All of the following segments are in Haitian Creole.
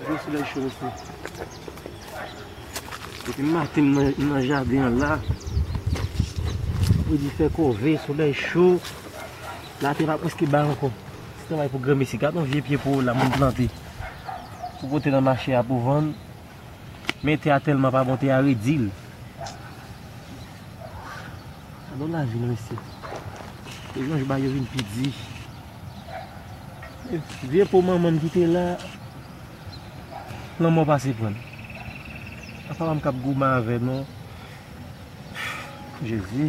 Gade solèy cho mesye. Depi maten m nan jaden an la. Fredi fè kòve, solèy cho. Latè pa prèske bay ankò. Se travay pou granmesi. Gade yon vye pye poro la moun plante. Pou pote nan mache a pou vann. Men tè a tèlman pa bon, tè a redi l. Gade yon lavi non mesye. Yon j bay yo vin pi di. Vye po manmanm ki te la Lanmò pase prann Se pa manm kap goumen avè non Jezi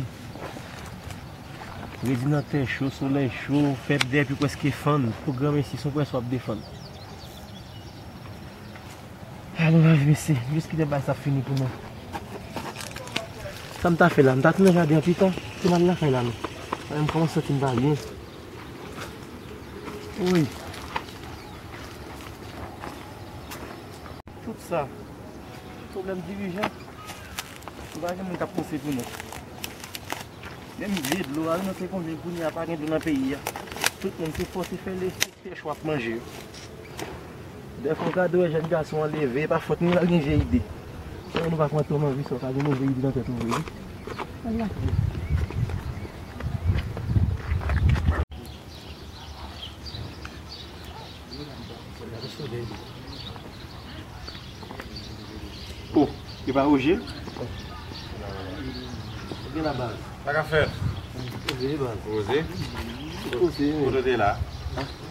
Redi nan tè cho solèy cho Fèb dèy pi preske fann Pou granmesi son prens wap defann A nou la vi mesye Jis kilè bagay sa ap fini pou nou Sam ta fè la M ta tounen jaden an pitan Ti mal lakay la nou Mwen kòmanse santim pa byen Wouyy. Tout sa. Problem dirijan. Nou pa gen moun kap panse pou nou. Menm vye dlo a, nou se konbyen kounye a pa gen dlo nan peyi a. Tout moun se fò se fè le, se chwap manje. Dèfwa ou ka te wè jèn gason an leve, e pa fòt ni l al gen vye ide. Sèlman nou pa pran tan manje sa ou ka gen move ide nan tèt ou vre wi. O! E pa Roje? Sa ka fèt? Roze? Kote w te la?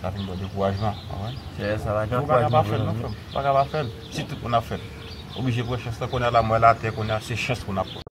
Sa vin bon dekourajman ou konprann. Seyè sa la gran kouraj mwen vle non frèm. Ou paka pa fèl si tout moun ap fèl. Oblije pran chans lan kounya la mwen la tè kounya se chans moun ap pran.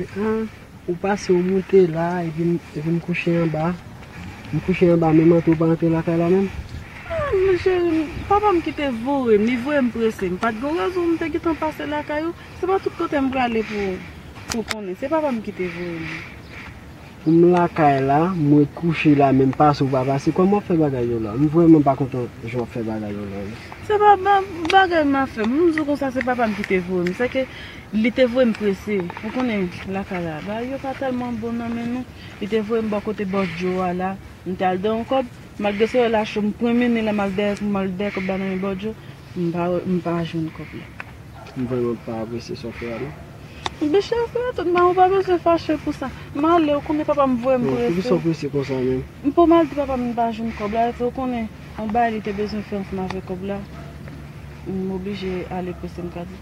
Ahh ou pase ou moute la epi epi m kouche anba m kouche anba menm antre ou pa antre lakay la menm? Ahh cheri m papa m kite voye m li voye m prese m pat gen rezon m te gentan pase lakay ou se pa tout kote m prale pou pou konnen se papa m kite voye m. Ou m lakay la, m ret kouche la men m pase ou pa pase, kòman w ap fè bagay yo la? M vrèman pa kontan jan w ap fè bagay yo la wi. Se pa bagay m ap fè, m di w konsa se papa m ki te voye m, sèke li te voye m prese, ou konnen lakay la bagay yo pa tèlman bon nan men nou, li te voye m bò kote bò Djo a la, m te al dèyè yon kòb, malgre se lè la cho m pwenmennen lè m al dèyè kòb la nan men bò Djo. M pa jwenn kòb la. M vrèman pa apresye sa w fè a non. Bicha w fè atant mwen ou pa bezwen fache pou sa. M ale ou konnen papa m voye m prese. Poukisa w prese konsa menm? M poko al di papa m m pa jwenn kòb la epi ou konnen on bagay li te bezwen fè ansanm avèk kòb la. M oblije ale prese m ka di.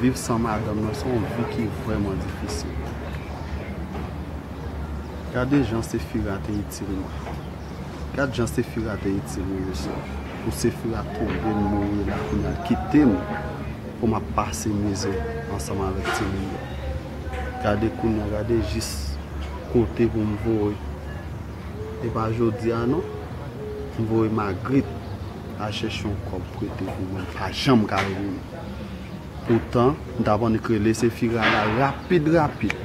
Viv san madanm nan se yon vi ki vrèman difisil. Gade jan Sefira te itil nou. Gad jan Sefira te itil nou mesye. Pou Sefira tonbe n mouri la kounya l kite m pou m ap pase mizè ansanm avèk timoun yo. Gade kounya gade jis kote pou m voye. Epa jodia non m voye magrit al chèche yon kòb prete pou mwen pa janm ka jwenn poutan m tap annik rele se fi rara rapid rapid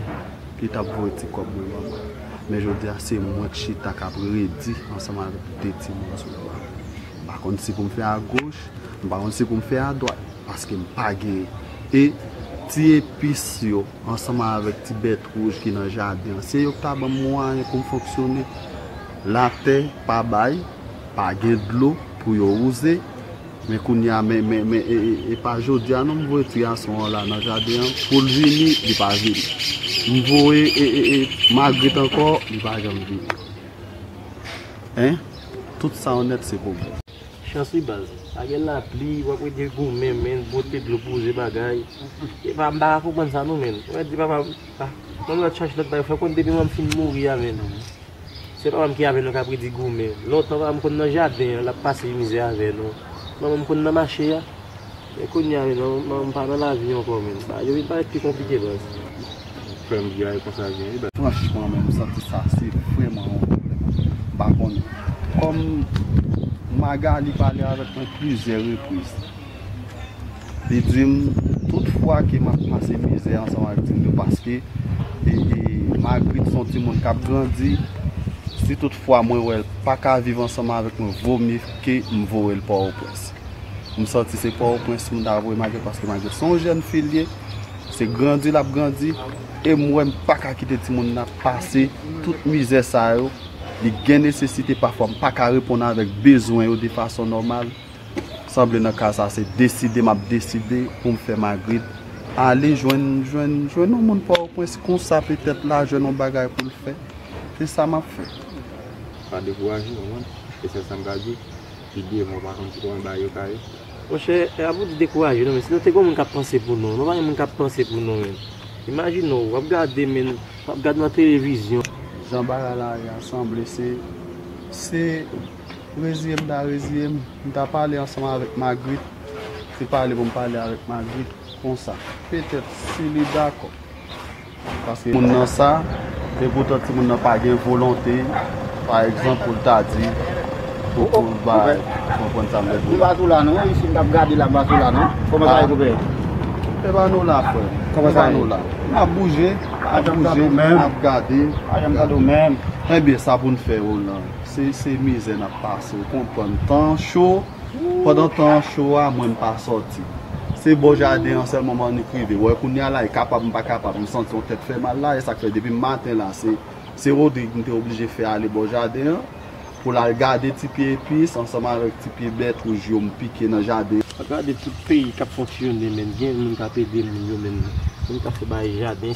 li tap voye ti kòb mwen ban mwen men jodia se mwen k chita kap redi ansanm avèk 2 timoun sou bra m pa konn si poum fè a goch m pa konn si poum fè a dwat paske m pa genyen e ti epis yo. ansanm avèk ti bèt wouj ki nan jaden an, se yo ki ta ban m mwayen pou m fonksyone. Latè pa bay, pa gen dlo pou yo wouze, men kounye a, men, men, men, e, e, e pa jodi a non m voye ti gason an la nan jaden an pou l vini, li pa vini. M voye, e, e, e, Magrit ankò, li pa janm vini. Hein? Tout sa w nèt se pou mwen. Chans wi baz. Pa gen lapli wap rete goumen menn pote dlo pou ze bagay. Epa m pa ka konprann sa non menn. Mwen di papa m ah banm lòt chans lòt bagay fè konn depi manm fin mouri avè nou se papa m ki avè nou kap redi goumen. Lontan papa m konn nan jaden an lap pase mizè avè nou. Manman m konn nan mache a. Men kounya menm nan m pa nan lavi ankò menm yo vin parèt pi konplike baz. Frèm bgy konsa gen wi baz. Franchman menm m santi sa se vrèman yon problèm m pa konnen kòm Magalie pale avèk mwen plizyè repriz li dim tout fwa ke map pase mizè ansanm ak Dildo paske Magritte son timoun kap grandi si tout fwa mwen wèl paka viv ansanm avèk mwen vomye ke m voyel Port-au-Prince. M sòti se Pòtoprens m ta voye Maguette paske Maguette se yon jèn fi l ye, se grandi l ap grandi e m wè m pa ka kite timoun nan ap pase tout mizè sa yo, li gen nesesite pafwa m pa ka reponn avèk bezwen yo de fason nòmal, sanble nan ka sa se deside m ap deside pou m fè Magrit ale jwenn jwenn jwenn yon moun Pòtoprens konsa petèt la jwenn yon bagay pou l fè, se sa m ap fè. Pa dekouraje w konprann, se sèl sa m ka di w. Li de mwa pakonn si konbyen bayo ka ye. Monchè e pa pou nou dekouraje non men si nou te gen yon moun kap panse pou nou nou pa gen moun kap panse pou nou menm imajine w wap gade men wap gad nan televizyon. Jan bagay la ye a sanble se se reziye m ta reziye m m ta pale ansanm avèk Magrit se pale pou m pale avèk Magrit konsa petèt si li dakò. Paske moun nan sa, epoutan timoun nan pa gen volonte, pa egzanp, pou l ta di, pou l ba, ou konprann sa m vle di la. Koube a nou la non, isi m t ap gade la bas ou la non. Kòman sa ye koube? Koube a nou la frè m. Kòman sa nou la? N ap bouje, n ap bouje, n ap gade. Pa janm gade w menm. Enben sa pou n fè yo lan. Se mizè n ap pase, ou konprann. Tan cho. Pandan tan cho a mwen m pa sòti. Se bò jaden an sèlman Marnik rive. Wè kounya la e kapab m pa kapab m santi yon tèt fè mal la e sak fè depi maten la se se Rodrigue m te oblije fè ale bò jaden an pou l al gade ti pye epis ansanm avèk ti pye bèt wouj yo m pike nan jaden an. Gade tout peyi kap fonksyone menn gen moun kap ede moun yo menn moun kap fè bagay jaden.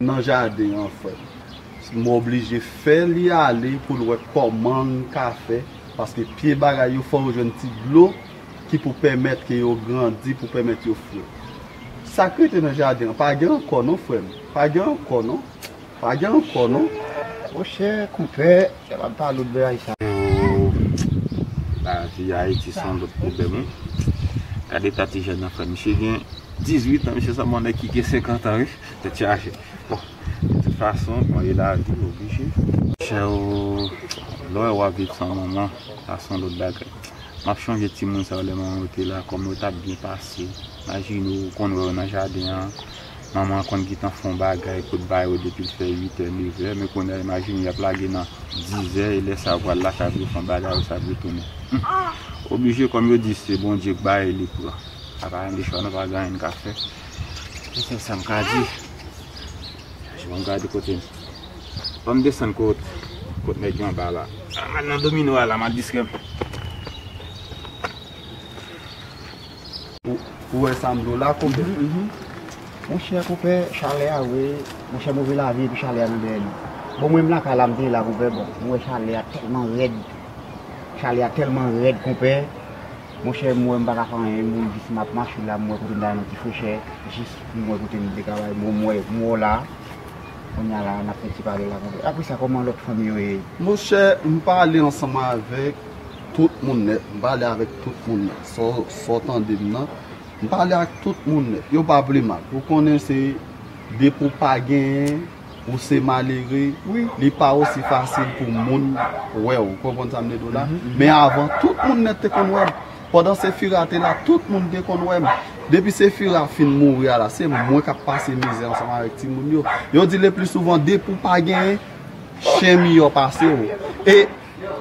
nan jaden an frèm m oblije fè li ale poul wè kòmanl ka fè paske pye bagay yo fò yo jwenn ti dlo ki pou pèmèt ke yo grandi pou pèmèt yo fre sak rete nan jaden an pa gen ankò non frèm pa gen ankò non pa gen ankò non. Monchè konpè lè wap pale ou bèy sa. Ooh lavi ayiti son lòt pwoblèm wi gad eta ti jèn nan frèm misye gen 18 ans misye sanble yon nèg ki gen 50 ans wi. Tèt chaje. Bon, de tout fason, on e la vi, oblije. Chè o, lè w ap viv san manman, sa son lòt bagay. M ap chonje timoun sa yo lè manman yo te la, kòman yo t ap byen pase. Majine ou konn wè yo nan jaden an, manman an konn gentan fè on bagay pou l ba yo depi l fè uitè, nevè. Men kounye a, imajine y ap lage nan dizè, e lè sa yo pral lakay pou yo fè on bagay, yo sa ap retounen. Oblije, kòm yo di, se Bondye k bay, li pran. Sa pa yon de chwa nou pa gen anyen n ka fè. Mwen fè sa m ka di. Bon m gade kote m. Fò m desann kot kot nèg yo anba la. M al nan domino a la m al distrè m. Ou wè sa m di w la konpè? Monchè konpè chalè a wè. Monchè move lavi epi chalè a nan dèyè nou. Bon mwen m lakay la m te ye la konpè bon. M wè chalè a tèlman rèd. Chalè a tèlman rèd konpè. Monchè m wè m paka fè anyen moun jis map mache la m wè kote m ta bay nou ti frechè jis m wè kote m te ka bay bon m wè m wè w la kounya la nap fè ti pale la konsa apresa kòman lòt fanmi yo ye? Monchè m pale ansanm avèk tout moun nèt m pale avèk tout moun nèt sa w tande m nan m pale ak tout moun nèt yo pa plimal ou konnen se depi w pa genyen ou se malere wi li pa osi fasil pou moun wèw ou konprann sa m vle di w la men avan tout moun nèt te konn wèm pandan sefira te la tout moun te konn wèm depi sefira fin mouri a la se mwen kap pase mizè ansanm avèk timoun yo yo di le pli souvan depi w pa genyen chen miyò pase w e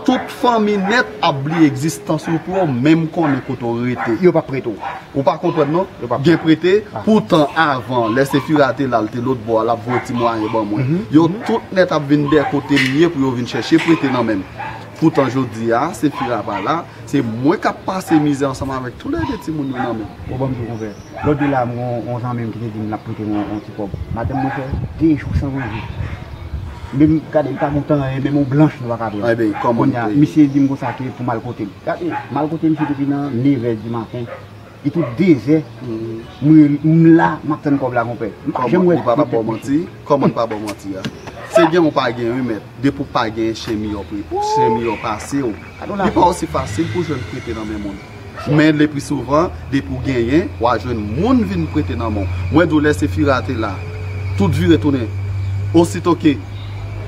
Tout fanmi nèt ap bliye egzistans ou pou yo menm konnen kote w rete. Yo pap prete w. Ou pa konprann non. Gen prete, poutan avan, lè Sefira te la, l te lotbò a, l ap voye ti mwayen ban mwen. Yo tout nèt ap vin dèyè kote m ye pou yo vin chèche prete nan men m. Poutan jodi a, Sefira pa la, se mwen k ap pase mizè ansanm avèk toulède timoun yo nan men m. Ou ban m dlo konpè. Lòt jou la m gen yon zanmi m ki te di m l ap prete m yon ti kòb. Madanm mwen fè de jou san manje. Menm gade li pa goute anyen, menm yon blanch li pa ka pran. Kounye a, misye di m konsa ke pou m al kote l. Gade, m al kote misye depi nan nevè di maten. E tout dezè, m la, m ap tann kòb la konpè. M pa janm wè kòb la konpè. Kòman l pa ba w manti a? Se gen ou pa gen wi mèt. Depi w pa gen chen miyò pase w. Li pa osi fasil pou w jwenn prete nan men moun. Men lepli souvan depi w genyen wa jwenn moun vin prete nan men w. Mwen di w lè Sefira te la, tout vire tounen. Osito ke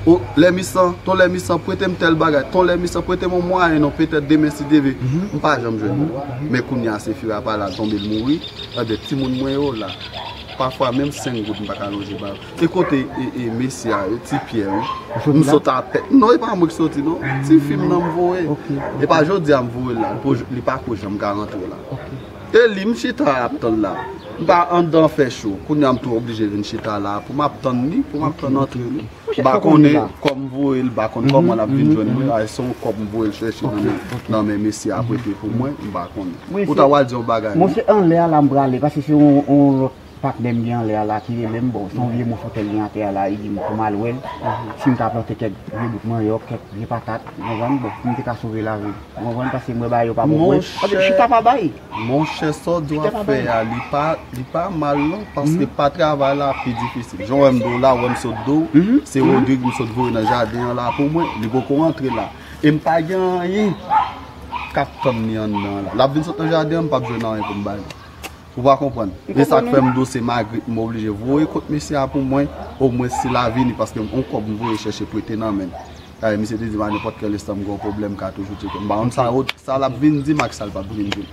O Lèmisan, Ton Lèmisan prete m tèl bagay, Ton Lèmisan prete m yon mwayen non petèt demen si Dye ve, m pa janm jwenn yo. Men kounye a Sefira pa la l tonbe l mouri, enben timoun mwen yo la. Pafwa menm 5 goud m pa ka lonje ba yo. E kote e mesye a e ti pyè wi. M sot apè. Non e pa mwen ki soti non. Ti fi m nan m voye. E pa jodi a m voye l la. Li pa ko janm ka rantre la. E li m chita ap tann la. M pa andan fè cho. Kounye a m tou oblije vin chita la. Pou m ap tann li. Pou m ap tann antre li. M pa konnen kòm m voye l. M pa konnen kòman l ap vin jwenn mwen. A e se yon kòb m voye l chèche nan men mesye a prete pou mwen. M pa konnen. Ou ta wal di yon bagay. Mwen se anlè a la m prale. Pase se yon lòt. Patnè m gen anlè a la ki rele m, bon se yon vye moso tè l gen atè a la, li di m pou m al wè l, si m ka plante kèk vye bout manyòk, kèk vye patat, ou konprann, bon pou m te ka sove lavi m, ou konprann, paske m wè bagay yo pa bon pou mwen. Monchè, Chita pa bay! monchè sa w di w ap fè a, li pa, li pa mal non, paske pa travay la pi difisil. Jan w wè m di w la, w wè m sot di w, se Rodrigue m sot voye nan jaden an la pou mwen, li poko rantre la, e m pa gen anyen k ap tann li anndan an la. L ap vin sot nan jaden an, m p ap jwenn anyen pou m ba li. Ou pa konprann. E sak fèm diw se Magrit m oblije voye kot mesye a pou mwen, o mwen si la vini paske m on kòb m voye chèche prete nan menl. Dayè misye te dim a nenpòt kèl estan m gen on pwoblèm m ka toujou tcheke. M pa konn sa ou sa lap vin dim ak sal pap vin dim.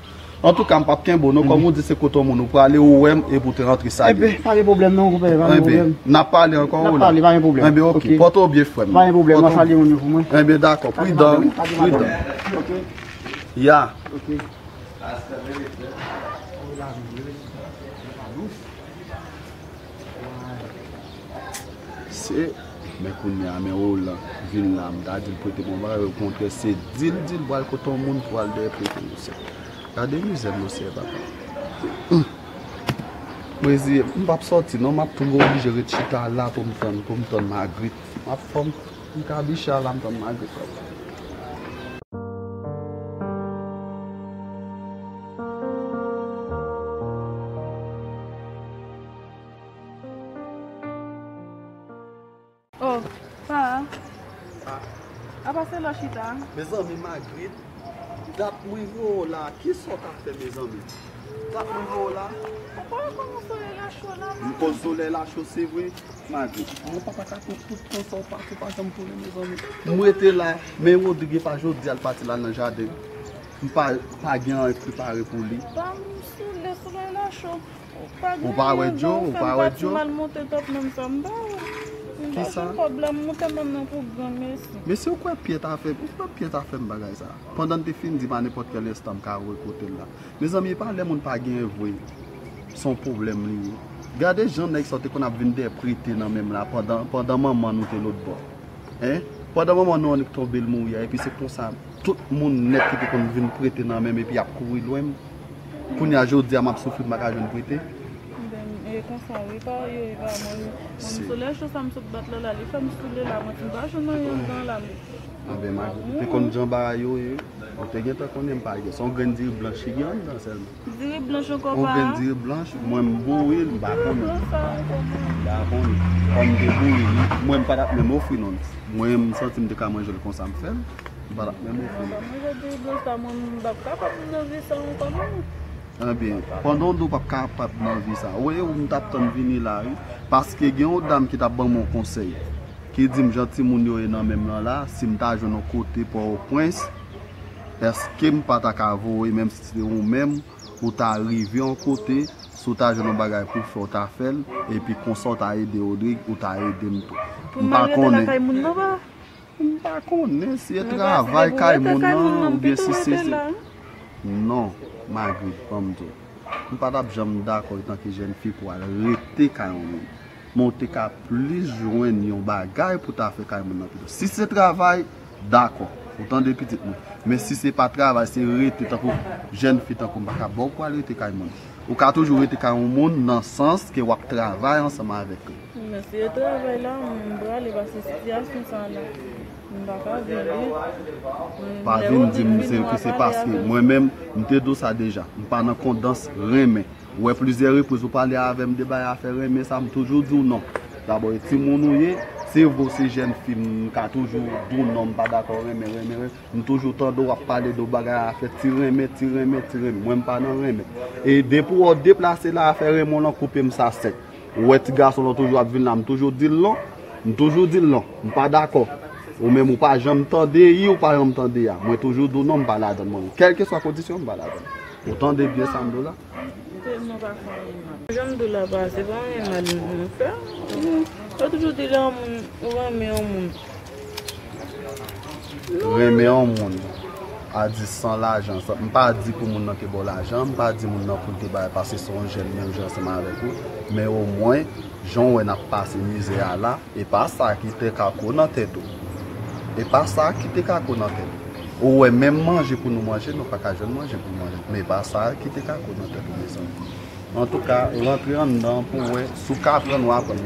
Antouka m pap kenbew non kòm ou di se kot on moun ou prale ou wèm epi ou te rantre sa gen. Pa gen pwoblèm non konpè pa gen pwoblèm. Enben nap pale ankò ou la. Nap pale pa gen pwoblèm. Enben ok pòte ou byen frèm. Pa gen pwoblèm wap salye moun yo pou mwen. Enben dakò pridan pridan. Ok. Ya. Ok. Se Men kounye a men ou lan vin la m ta di l prete bon bagay okontrè se di l di l pral kote yon moun pou al dèyè prete yon sè. Gade mizè monseyè papa. M reziye m, m pap sòti non, m ap tou oblije ret chita la pou m tann pou m tann Magrit. M ap fò m. M ka biche a la m tann Magri t wap vini. Oh sa a Sa a Apa se lò chita a. Mezanmi Magrit dat mwen wè w la kisa w tap fè mezanmi dat mwen wè w la. Ou pa wè kòman solèy la cho la Magri. M konn solèy la cho se vre. Magi, mwen pa ta ka tann tout tan sa ou pati ou pa janm tounen mezanmi. M rete la, men Rodrigue e pa jodi a l pati l al nan jaden. M pa pa gen anyen prepare pou li. Pa m soule, solèy la cho. Ou pa gen anyen jan ou fè m pati m al monte top menm sa m ba ou. M pa gen kòb la, m monte menm nan pou granmesi. Men si ou kwè Pyè ta fè, ou kwè Pyè ta fè m bagay sa a? Pandan l te fin di m a nenpòt kèl enstan m ka re kote l la. Mezanmi e pa lè moun pa genyen vre. son pwoblèm li ye. Gade jan nèg sa yo te konn ap vin dèprete nan men m la pandan manman nou te lotbò. Hein! Pandan manman nou annik tonbe l mouri a epi se konsa tout moun nèt ki te konn vin prete nan men m epi y ap kouri lwen m. Kounye a jodi a m ap soufri m pa ka jwenn prete. Mezanmi e konsa wi pa yo e pa mwen wi. Mwen m soulè cho sa m sot bat lala li fè m soule la mwen t m pa jwenn anyen andan la m. Anben Mago, ou te konn jan bagay yo ye? Ou te gentan konnen m pa gen. S on grenn diri blanch ki gen anndan sèlman. Diri blanch ankò pa. Okenn diri blanch, mwen m bouyi l m pa konnen. Mwen m pa konnen. Kòm m te bouyi li, mwen m pa tap menm ofri non. Mwen m santi m te ka manje l konsa m fè l. M pa tap menm ofri l. Sa manje diri blanch sa mwen m pap kapab nan vi sa ankò non. Ebyen, pandan w di w pap kapab nan vi sa, ou e ou m tap tann vini la wi. Paske gen yon dam ki tap ban mwen yon konsèy. Ki di m jan timoun yo ye nan menm lan la, si m ta jwenn yon kote Pòtoprens. Eskem pa ta ka voye menm si se te ou menm ou ta rive yon kote si w ta jwenn yon bagay pou w fè w ta fè l epi konsa w ta ede Rodrigue ou ta ede m tou m pa konnen m pa konnen si e travay kay moun nan ou byen si se se non Magrit ban m di w m pa tap janm dakò etanke jèn fi pou w al rete kay yon moun men w te ka plis jwenn yon bagay pou w ta fè kay moun nan pito si se travay Dakò. Ou tande pitit mwen. Men si se pa travay, se rete tankou jèn fi tankou m pa ka ba w pou w al rete kay moun. Ou ka toujou rete kay yon moun nan sans ke w ap travay ansanm avèk li. Men si e travay la m prale paske sitiyasyon sa a la m pa ka viv li. Pa vin di m ke se paske mwen menm m te di w sa deja. M pa nan kondans renmen. Ou wè plizyè repriz ou pale avèm de bay afè renmen sa m toujou diw non. Dabò e timoun ou ye, se vre ou se jèn fi m ka toujou diw non m pa dakò renmen renmen renmen, m toujou tande w ap pale de bagay afè ti renmen ti renmen ti renmen mwen m pa nan renmen. E depi wè w deplase la afè renmen w lan koupe m sa sèk. Ou wè ti gason lan toujou ap vin la m toujou dil non, m toujou dil non, m pa dakò. Ou menm ou pa janm tande i ou pa janm tande a. Mwen toujou diw non m pa ladann mwen menm. Kèlkeswa kondisyon m pa ladann. Ou tande byen sa m do la? M telman pa fè anyen mal. Jan m di w la papa se pa anyen mal mwen fè. Yo toujou di lè yon moun ou renmen yon moun. Renmen yon moun a di san lajan. M pa di pou moun nan te ba w lajan. M pa di moun nan pou l te bay paske se yon jèn menm jan ansanm avèk ou. Men omwen jan w wè n ap pase mizè a la. Epa sa ki te kako nan tèt ou. Epa sa ki te kako nan tèt ou. Ou wè menm manje pou nou manje nou paka jwenn manje pou nou manje. Men epa sa ki te kako nan tèt ou mezanmi. Antouka rantre anndan pou wè si w ka aprann ou aprann.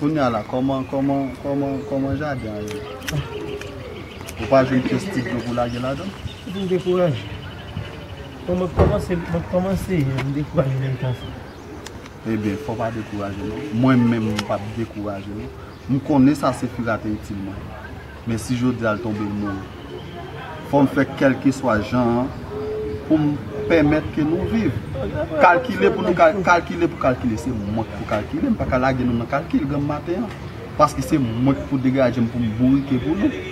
Kounya la kòman kòman kòman kòman jaden an ye? Ou pa jwenn pyès ti dlo pou lage ladan? Ou fin dekouraje? Bon mwen kòmanse mwen kòmanse ye m dekouraje menm jan sa. Ebyen fò pa dekouraje non. Mwen menm m pap dekouraje non. M konnen sa se fira te itil mwen. Men si jodia l tonbe l mouri. Fò m fè kèlkeswa jan an pou m pèmèt ke nou viv. Kalkile pou nou kalkile, kalkile pou kalkile. Se mwen ki pou kalkile, m pa ka lage nou nan kalkil granm maten an. Paske se mwen ki pou degaje m pou m bourike pou nou.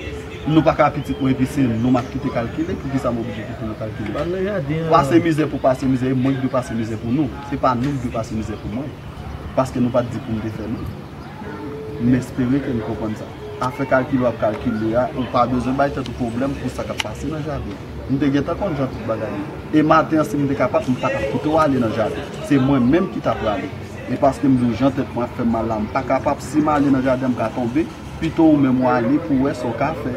Nou pa ka pitit mwen epi se nou m ap kite kalkile. Poukisa m oblije kite nou kalkile? Pase mizè pou pase mizè, e mwen ki dwe pase mizè pou nou. Se pa nou ki dwe pase mizè pou mwen. Paske nou pa t di pou m te fè nou. M espere ke nou konprann sa. Afè kalkile w ap kalkile a, ou pa bezwen bay tèt ou pwoblèm pou sa k ap pase nan jaden an. M te gentan konn jan tout bagay ye. E maten an, si m te kapab, m pa t ap kite w ale nan jaden. Se mwen menm ki t ap prale. E paske m di w jan tèt mwen ap fè m mal la, m pa kapab. Si m ale nan jaden an, m ka tonbe. Pito ou menm w ale pou w wè sa w ka fè.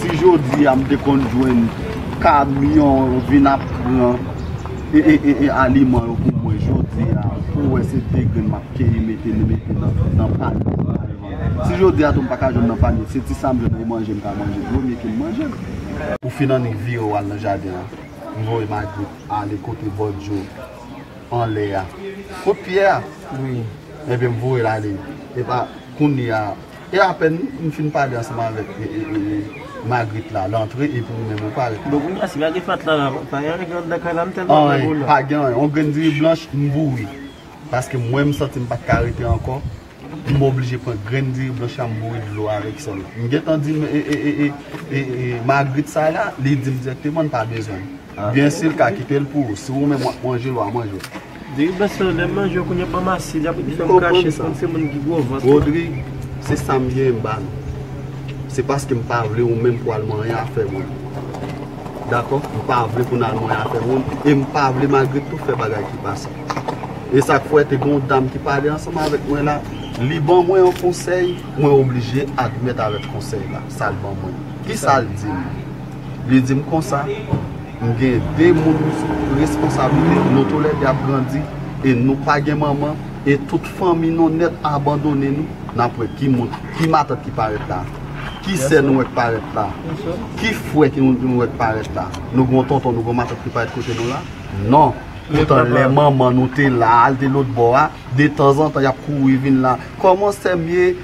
Si jodi a m te konn jwenn kamyon vin ap pran aliman yo pou mwen jodi a pou wè se 2 grenn m ap keyi mete nan panye m al vann. Si jodi a tou m pa ka jwenn nan panye m se ti sa m jwenn nan manje m ka manje premye ke m manje l. Ou fin annik vire ou al nan jaden an m voye Magrit ale kote bòdyo anlè a kot pyè a ebyen m voye l ale epa kounye a E apèn m fin pale ansanm avèk Magrit la, l antre epi ou menm ou parèt. Bon kounya si pa gen fatra la, pa gen anyen ki anndan kay la, m tèlman wè bouda. Anyen, pa gen anyen. On grenn diri blanch, m boure. Paske mwen m santi m pa t ka rete ankò, m oblije pran grenn diri blanch la m boure dlo avèk sèl. M gentan di Magrit sa la, li di m dirèkteman l pa bezwen l. Oubyen sil ka kitel pou ou. Si ou menm wap manjel wa manjel. Diri blanch lan lèm manjel kounya banm asid ap fèm krache se kòmsi moun ki gwo vant. Rodri se sam ye m ba nou. Se paskem pa vle ou menm pou al manyen afè moun. Dakò m pa vle pou nou al manyen afè moun em pa vle Magrit tou fè bagay ki pa sa. Esak fè te gen yon dam ki pale ansanm avèk mwen la li ban mwen yon konsèy mwen oblije admèt avèk konsèy la sal ban mwen. Kisal dim. Li di m konsa, M gen de moun sou responsablite, nou toulè de ap grandi e nou pa gen manman e tout fanmi nou nèt abandone nou. N ap wè ki moun, ki matant ki parèt la a? Ki sè nou wè k parèt la a? Ki frè ki nou wè k parèt la a? Nou gen yon tonton, nou gen yon matant ki parèt kote nou la a? Non! Poutan lè manman nou te la a, li te lotbò a, detanzantan y ap kouri vin la a, Kòman sè m ye?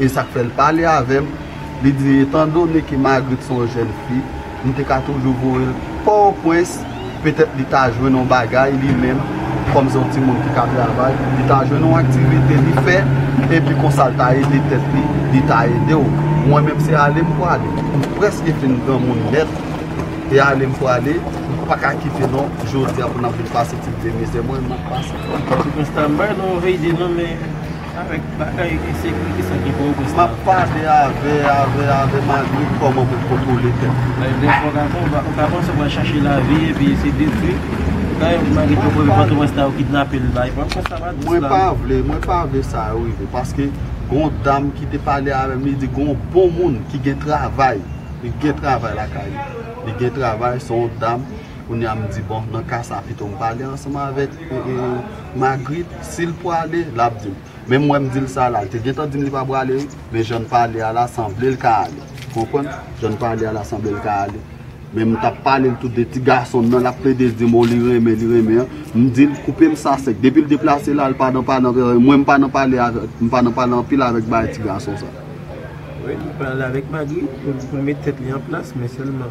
E sa k fè l pale avè m, li di, Etandone ke Margaret se yon jèn fi, m te ka toujou voye l Pòtoprens, petèt li ta jwenn yon bagay li menm, kòm se yon timoun ki ka travay, li ta jwenn yon aktivite li fè, epi konsa l ta ede tèt li, li ta ede w. Mwen menm se ale m prale. M prèske fin granmoun nèt, e ale m prale, m pa ka kite non, jodi a pou n ap vin pase ti vye mizè mwen menm m ap pase. Pòtoprens ta bay nou yon veyide non men. Avèk bagay ensekirite sa gen pòtoprens la. Map pale avè avè avè Magritte kòman pou kontwole tèt li. Bay de fo gason ou ka panse ou pral chache lavi epi se detwi kay Magritte yo pran pòtoprens la yo kidnapel bay pranm pòs la pa dous la. Mwen pa vle mwen pa vle sa yo rive paske gon dam ki te pale avèm li di gon bon moun ki gen travay li gen travay lakay li li gen travay son dam. Kounye a m di bon nan ka sa pito m pale ansanm avèk Magrit si l pwale l ap di m. Men m wè m di l sa la l te gentan di m li pa pwale wi men jan n pale a la sanble l ka ale ou konprann jan n pale a la sanble l ka ale men m t ap pale l tou de ti gason m nan l ap plede di m o li renmen li renmen an m di l koupe m sa sèk depi l deplase l al pa nan pale anpil avèk mwen m pa nan pale avèk m pa nan pale anpil avèk bagay ti gason sa. Wi li pale avèk Magrit pou l mete tèt li an plas men sèlman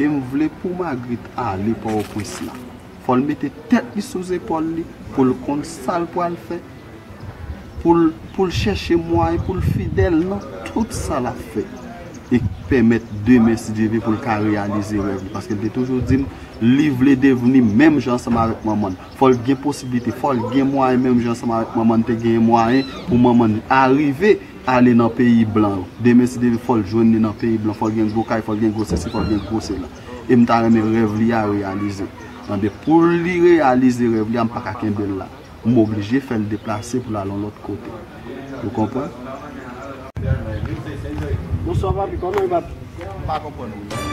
E m vle pou Magrit ale Pòwoprens la. Fò l mete tèt li sou zepòl li pou l konn sa l pral fè, pou l pou l chèche mwayen pou l fidèl nan tout sa l ap fè e k pèmèt demen si Dye vle pou l ka reyalize rèv li. Paske l te toujou di m li vle devni menm jan ansanm avèk manman l. Fò l gen posiblite, fò l gen mwayen menm jan ansanm avèk manman l te genyen mwayen pou manman l arive. ale nan peyi blan yo demen si Deven fòl jwenn li nan peyi blan fòl gen gwo kay fòl gen gwo sesi fòl gen gwo sela em ta renmen rèv li a reyalize tande poul li reyalize rèv li a mpaka kenbel la m oblije fèl deplase poul al yon lòt kote ou konprann. Bonswa papi koman ye papi. M pa konprann ou non.